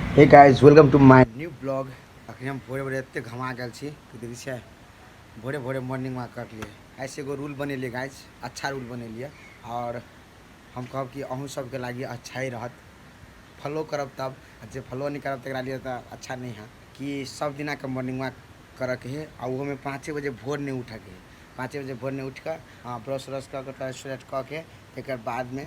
हे guys welcome to my new blog अखन हम भोरे भोरे एते घमा गेल छी कि देखै छियै भोरे भोरे मॉर्निंग वॉक करलिए आइसँ एगो रूल बनेलिए गाइज अच्छा रूल बनेलिए आओर हम कहब कि अहूँ सबके लागि अच्छा ही रहत फॉलो करब तब जे फॉलो नहि करब तकरा लिए तऽ अच्छा नहि है कि सब दिनाके मॉर्निंग वॉक करऽके है आ ओहोमे पाँचे बजे भोर नहि उठऽके है पाँचे बजे भोर नहि उठिकऽ ब्रश व्रश कऽ कऽ टॉयलेट कऽ के तकर बादमे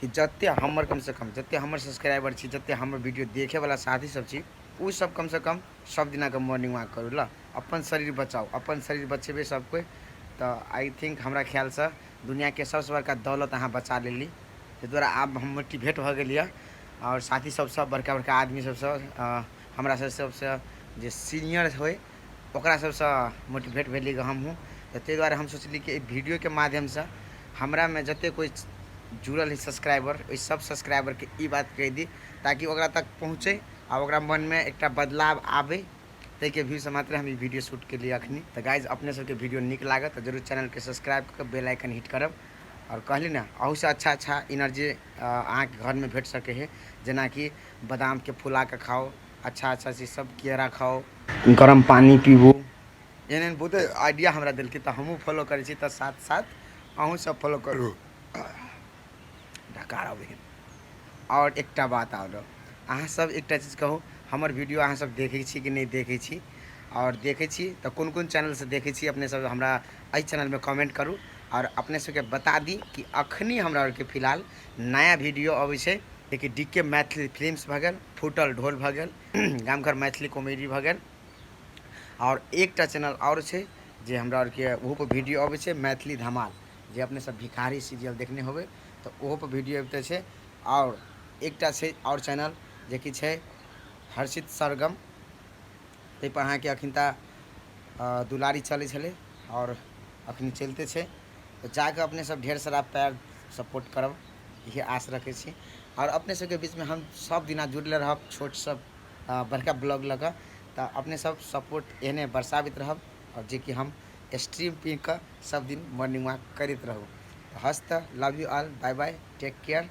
कि जते हमर कम से कम जते हमर सब्सक्राइबर छी जते हमर वीडियो देखे वाला साथी सब छी उ सब कम से कम सब दिना के मॉर्निंग वॉक करू ल अपन शरीर बचाओ अपन शरीर बचेबे सब कोई तो आई थिंक हमरा ख्याल से दुनिया के सबसे बड़का दौलत अहाँ बचा लेली ताहि दुआरे आब हम मोटिवेट भऽ गेलियै आओर साथी सब सब बड़का बड़का आदमी सब सब हमरा सब सबसे जे सीनियर होइ ओकरा सबसँ मोटिवेट भेलियै गऽ हमहुँ तऽ तै दुआरे हम सोचलियै कि अइ वीडियोके माध्यमसँ हमरामे जते कोइ जुड़ल रहै सब्सक्राइबर ओइ सब सब्सक्राइबरके ई बात कहि दी ताकि ओकरा तक पहुँचै आओर ओकरा मनमे एकटा बदलाव आबै तैके व्यूसँ मात्रे हम ई वीडियो शूट कयलियै अखनी तऽ गाइज अपने सबके वीडियो नीक लागत तऽ जरूर चैनलके सब्सक्राइब कऽ कऽ बेल आइकन हिट करब आओर कहली ने अहूसँ अच्छा अच्छा एनर्जी अहाँके घरमे भेट सकै है जेनाकि बादामके फुलाके खाउ अच्छा अच्छा चीज सब किए राखौ गरम पानी पीबू एहन एहन बहुते आइडिया हमरा देलकै तऽ हमहूँ फॉलो करै छी तऽ साथ साथ अहूँ सब फॉलो करू ढकार अबै आओर एकटा बात आओर अहाँ सब एकटा चीज कहू हमर वीडियो अहाँ सब देखै छी कि नहि देखै छी आओर देखै छी तऽ कोन कोन चैनलसँ देखै छी अपने सब हमरा एहि चैनलमे कमेंट करू आओर अपने सबके बता दी कि अखनी हमरा आरके फिलहाल नया वीडियो अबै छै जेकि डी के मैथिली फिल्म्स भऽ गेल फूटल ढोल भऽ गेल गामघर मैथिली कॉमेडी भऽ गेल आओर एकटा चैनल आओर छै जे हमरा आरके ओहोपर वीडियो अबै छै मैथिली धमाल जे अपने सब भिखारी सीरियल देखने होबै तऽ ओहोपर वीडियो अबिते छै आओर एकटा छै आओर चैनल जेकि छै हर्षित सरगम ताहिपर अहाँके एखन तऽ दुलारी चलै छलै आओर एखन चलिते छै तऽ जाकऽ अपने सब ढेर सारा प्यार सपोर्ट करब इएह आस रखै छी आओर अपने सबके बीचमे हम सब दिना जुड़ले रहब छोटसँ बड़का ब्लॉग लऽ कऽ तऽ अपने सब सपोर्ट एहने बरसाबैत रहब आओर जेकि हम स्ट्रीम पी कऽ सब दिन मॉर्निंग वॉक करैत रहू हस्त love you all bye bye take care